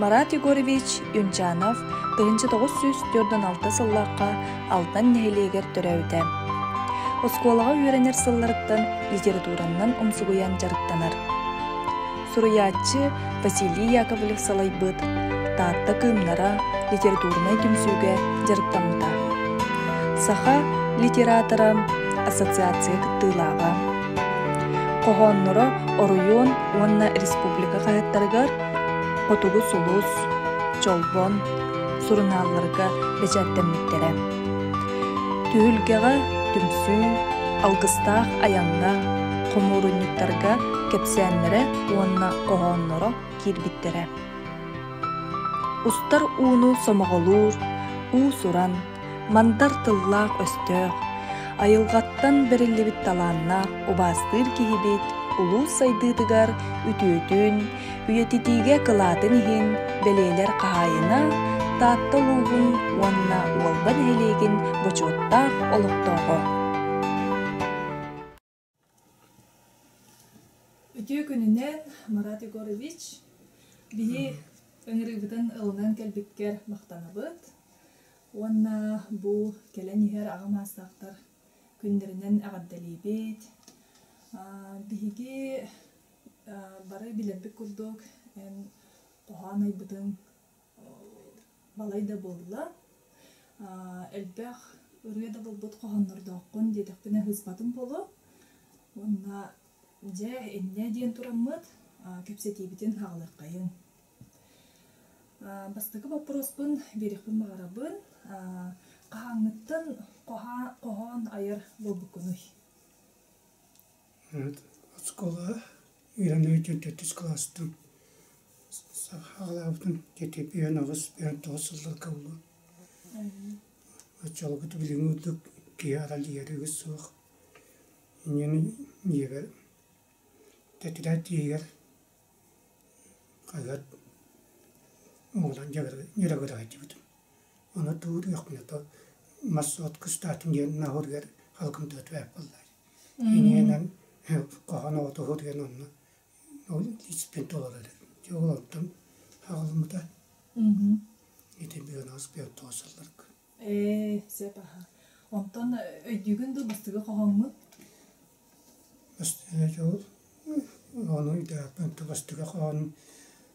Марат Егорович Юнчанов тыһыынча тоҕус сүүс төрдөн алта сылларга Алтан нэһилиэгэр төрөөбүтэ. Оскуолаҕа үөрэнэр сылларыттан литератураннан умсугуйан дьарыктанар. Суруйааччы Василий Яковлев салайбыт Таатта кыымнара литературнай түмсүүгэ дьарыктаммыта. Саха литератора ассоциация кыттыылааҕа хоһоонноро оройуон уонна республика хаһыаттарыгар Хотугу сулус, Чолбон сурунаалларга бэчээттэммиттэрэ. Түһүлгэҕэ түмсүү, алгыстаах айанна, хомуурунньуктарга кэпсээннэрэ уонна хоһоонноро киирбиттэрэ. Устар ууну сомоҕолуур, уусуран Мандар тыллаах-өстөөх, айылҕаттан бэриллибит талааннаах убаастыыр киһибит улуус сайдыытыгар үтүөтүн, үйэтитиигэ кылаатын иһин бэлиэлэр хаһаайына, Таатта улууһун уонна Уолба нэһилиэгин бочуоттаах олохтооҕо. Үтүө күнүнэн, Марат Егорович. Биһи ыҥырыыбытын ылынан кэлбиккэр махтанабыт. Уонна бу кэлэн иһэр аҕам аастаахтар күннэринэн эҕэрдэлиибит. Биһиги бары билэрбит курдук эн хоһоон айбытыҥ балай да буолла элбэх ырыа да буолбут хоһооннордооххун диэтэхпинэ сыыспатым буолуо уонна дьэ иннэ диэн тураммыт кэпсэтиибитин саҕалыаххайыҥ бастакы боппуруоспун биэриэхпин баҕарабын хаһааҥҥыттан хоһоон айар буолбуккунуй оскуола үөрэнэр дьон төрдүс кылаастан сахалаабытын дьэтиэпийэн аҕыс бүтэн тоҕус сылларга булуо оччолорго билиҥҥи курдук киһи аралийэригит суох инньэни ийэбэр тэтилэр тиийигэр хаһыат оҕолорун дьарыгыраайдыбытым ону туур үөхпүнэ то мас от кыстаатын диэн наһыырыгар халкымтыа түбэп буоллар Иннинэн хоһоон оҕотуһуу диэн онно ол испин толорор эбит. Ол онтон аҕалыммыта. Ити быынаҕас быар тоосалларга. Ээ, сөп аха. Онтон өйдүүгүн дуу бастыгы хоһоҥмут? Бастыга дьол. Ону үйдэхпин бастыга хоһоон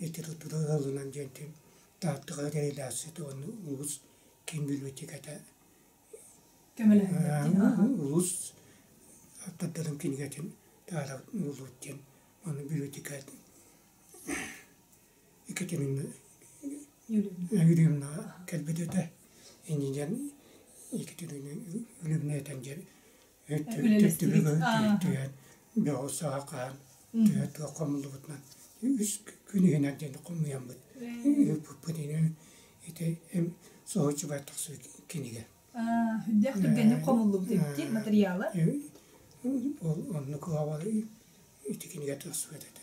литература ыалынан диэнтин тааттыга реализация уонна улуус киин библиотеката улуус тардылым кинигэтин таара булуут диэн ону библиотека Екатерина Юрьевна кэлбит этэ иннинэн Екатерина Юрьевна этэн диэн Өттүгэр тириэртиһэн, бөҕү-саахаан тыа тыа хомуллубутунан үс күн иһинэн диэн хомуйаммыт ыыппыппыт инэн ити эм соһуччубай тахсыы кинигэ. Үрдэх түргэнник хомуллубут эти матырыйаала. Ол оннук аабалы ити кинигэ тахсыбат этэ.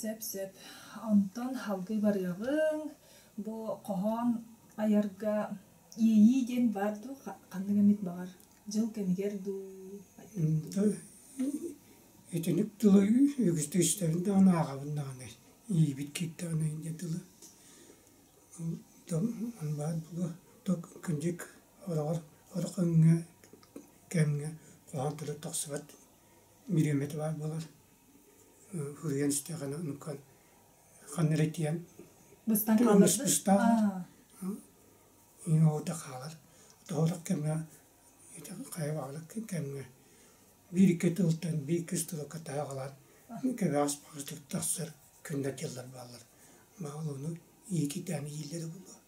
Сөп-сөп. Онтон халгый барыаҕыҥ. Бу хоһоон айарга иэйии диэн баар дуу? Ханнык эмит баҕар дьыл кэмигэр дуу? Итинник тылы үгүстүк истэбин да ону ааҕабын даҕаны иийбит киирдэҕинэ инде тылы ону баҕар кырдьык ороҕор oro кэмҥэ кэмҥэ хоһоон тылы тахсыбат Бириэмэтэ баар буолан суруйан истэҕинэ оннуккан ханна эрэ тиийэн быстан хаалбыт быстаабыт иҥ оҕото хаалар тоһоторох кэмҥэ хайа баҕалар кэмҥэ биир икки тылтан биир иккис тылы кытаһа аҕалаат кэбэҕэс баҕатык тахсар күннэр дьыллар бааллар баҕалар ону иикитээн ииллэрэ буолуо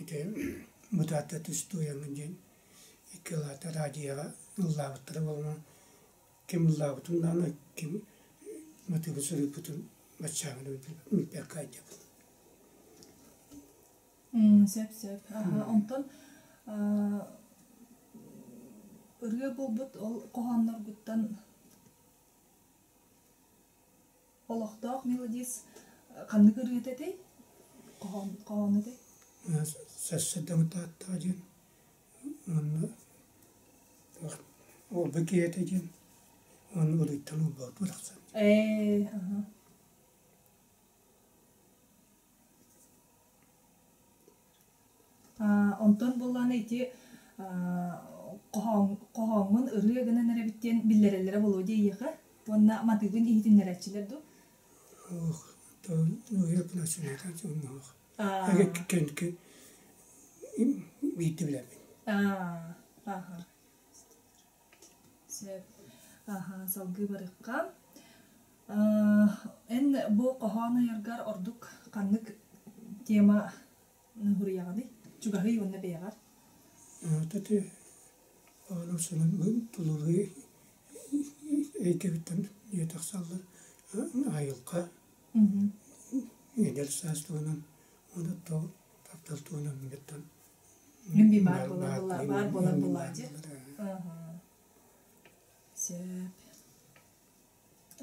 Ити Бытаатта түс туойамын диэн икки улаата радиоҕа ыллаабыттара буолума, ким ыллаабытын даҕаны, ким мотугу суруйбутун баччаамын билбэккэ айдьабын. Сөп-сөп. Онтон ырыа буолбут ол хоһоонноргуттан Олохтоох мелодис ханнык ырыата этэй? Хоһоон, хоһоон этэй? Сарсын Тааттаҕа диэн уонна Уолба киһитэ диэн уонна Улуйтан Улбал тахсан. Ээ, аха. Онтон буоллаҕына ити хоһооҥҥун ырыа гынан эрэбит диэн биллэрэллэрэ буолуо дии эйиэхэ уонна матыыбын иһитиннэрээччилэр дуу? Суох, ырыа плачевнайга дьонноох биирдэ билэммин Сөп. Аһа, салгыы барыахха. Аа, эн бу хоһоон айаргар ордук ханнык тема ныһуруйаҕыный? Чугаһый уонна бэйэҕэр. Аата ити ону сонун тулалыы өйдөбүттэн дьиэ тахсаллар айылҕа эдэр саас туһунан уонна таптал туһунан Любимый баар буолан буолла, баар буолан буолла дии. Сөп.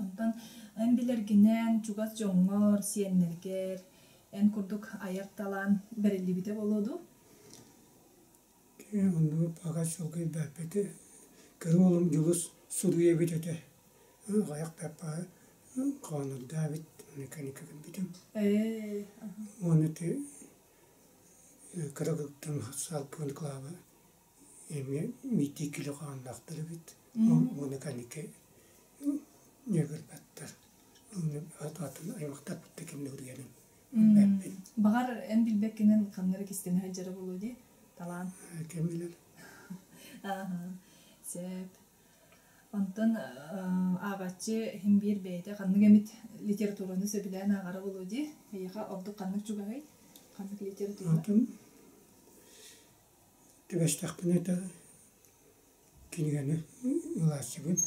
Онтон эн билэргинэн чугас дьоҥҥор, сиэннэргэр эн курдук айар талаан бэриллибитэ буолуо дуу? Кээ, оннук аҕай чылгыйдаабыты кини уолум Дьулус суруйа эбит этэ. Аҕыйахтарбаа хоонурдаабыт, инники-инники гыммытым. Ээ, аха. Уон ити кыра кырыктан саалпыан кылаабы эмиэ миитии кило хааннаахтар эбит уонна кэнники ньыгырбаттар атын аймахтарбыттан ким ньыгыргэнин билбэппин баҕар эн билбэккинэн ханна эрэ кистэнэ сылдьара буолуо дии талаан ким билэр аха сөп Онтон ааҕаччы иһин биир бэйэтэ ханнык эмит литератураны сөбүлээн ааҕара буолуо дии. Эйиэхэ ордук ханнык чугаһый? Ханнык литература? Атын түбэстэхпинэ да кинигэни ылааччыбын.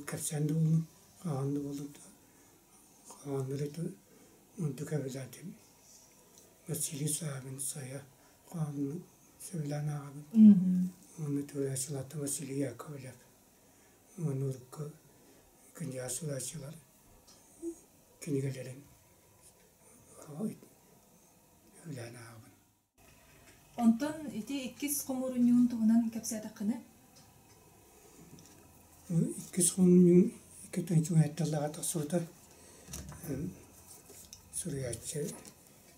кэпсээн да буоллун, ааҕан да буоллун хааннары да онтукка обязательно. Василий Савин, Сая хаанын Сымилан ааҕабын. Уонна тулаачыларта Василий Яковлев, уонна урукку князь тулаачылар кинигэлэрин үлээн ааҕабын. Онтон ити иккис хомуурунньугун туһунан кэпсээтэххинэ? Иккис хомуурунньугун икки тончугунатталлаҕа тахсыбыта суруйааччы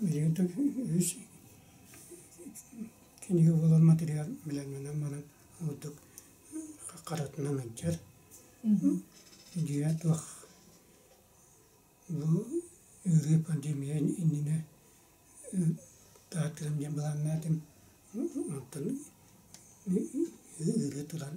Билигин үһүс кинигэ буолар материал билэрминэн баран ордук харатынан алдьар. Дьиэ туох бу ыарыы пандемия иннинэ таатыам диэн былааннаатым. Оттон ыарыы туран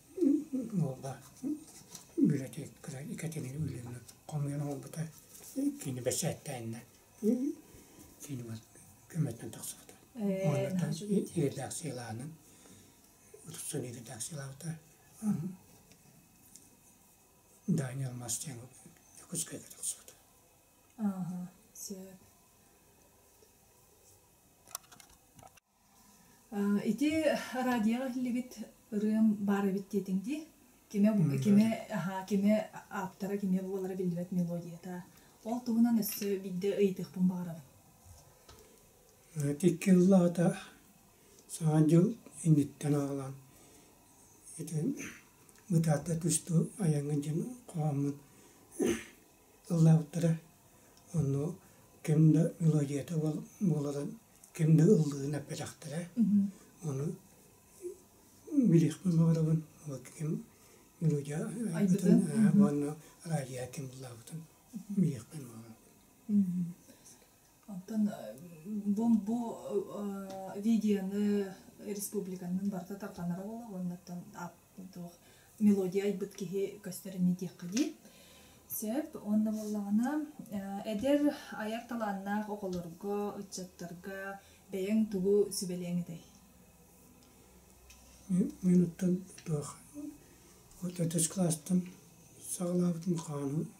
Уолга бюллетейкалар иккитин өллөннө, хомуйан оҥорбута, кини бэчээттээннэ, кини көмөтүнэн тахсыбыта. Уонна редакциялаанын устун редакциялаабыта. Даня Алмастян Дьокуускайга тахсыбыта. Ааха, сөп. Ити радиоҕа иһиллибит ырыам баар эбит диэтиҥ дии. Кимэ кимэ аһаа кимэ ааптара кимэ буолара биллибэт мелодията. Ол туһунан өссө биирдэ ыйытыахпын баҕарабын. Икки ыал аата Саҥа дьыл инниттэн аҕалан ити бытаата түстү айаҥҥын диэн хоһооммун ыллаабыттара. Ону ким да мелодията буоларын ким да ыллыын эппэтэхтэрэ. Ону билиэхпин баҕарабын. Ким мелодия айбытын, уонна радио ким ыллаабытын билиэхпин баҕарабын. Оттон бу бу регияны республиканын барыта тарҕанара буолар оннуттан мелодия айбыт киһи көстөрүн диэххэ дии. Сөп. Онно буоллаҕына эдэр айар талааннаах оҕолорго, ыччаттарга бэйэҥ тугу сүбэлиэҥ этэй? Мин оттон туох отец класстан саҕалаабытым хааны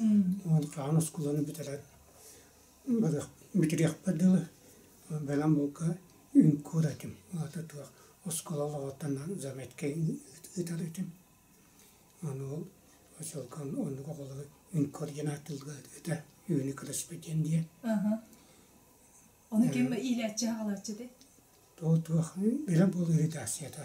Аан оскуоланы бүтэрэн бүтэриэхпэ дылы бэлэм булка үҥкүүр этим аата туох оскуола олоҕуттан заметка ыытар этим аны ол очолкон оннук оҕолору үҥкүүр диэн ааттыылга этэ үүнү көрөспүт диэн диэ ону ким иилээччи аҕалааччы этэй туох туох бэлэм буолуу редакцията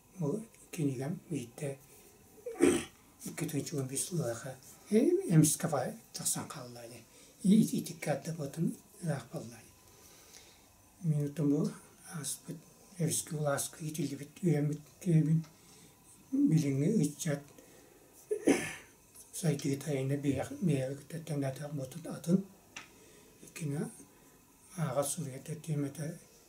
Бу кинигам биирдэ икки тыынчыбын бис ылыаха эмискэ тахсан хаалла ини итиккэ ардабытын ыраах буолла ини минутум бу ааспыт өрүскэ былааска иитиллибит үөрэммит киһибин билиҥҥи ыччат сайдыы тайана бэйэҕэ көтөттөн бэйэтэ атын ааҕа суруйа да тиэмэтэ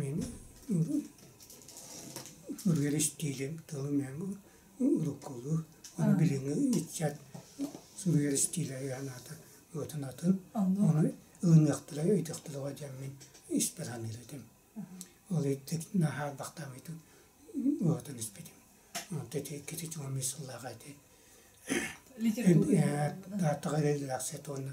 Мин ырыар истиилим тылым уруккулуу ону билиҥҥи ыччат суруйар истиилэригэр анаата уотунатын ону ылыныахтара өйдөхтөрүгэр диэн мин испэр саныыр этим. Ол иттик наһаа албахтаабытын уотун испитим. Онтон иккити чугу эмиэ сыллааҕы ити даатаҕа редакция уонна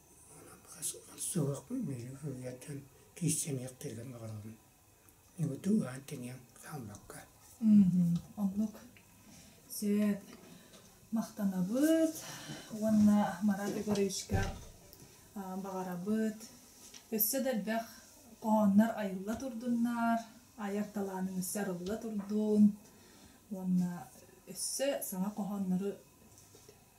Суохпун мүлүк үлэтин кииссэниэхтэригэр баҕарабын. Ньугутук аан-тиниэн хаалбакка. Оннук. Сөп. Махтанабыт уонна Марат Егоровичка баҕарабыт. Өссө да элбэх хоһооннор айылла турдуннар, айар талааныҥ өссө арылла турдун уонна өссө саҥа хоһооннору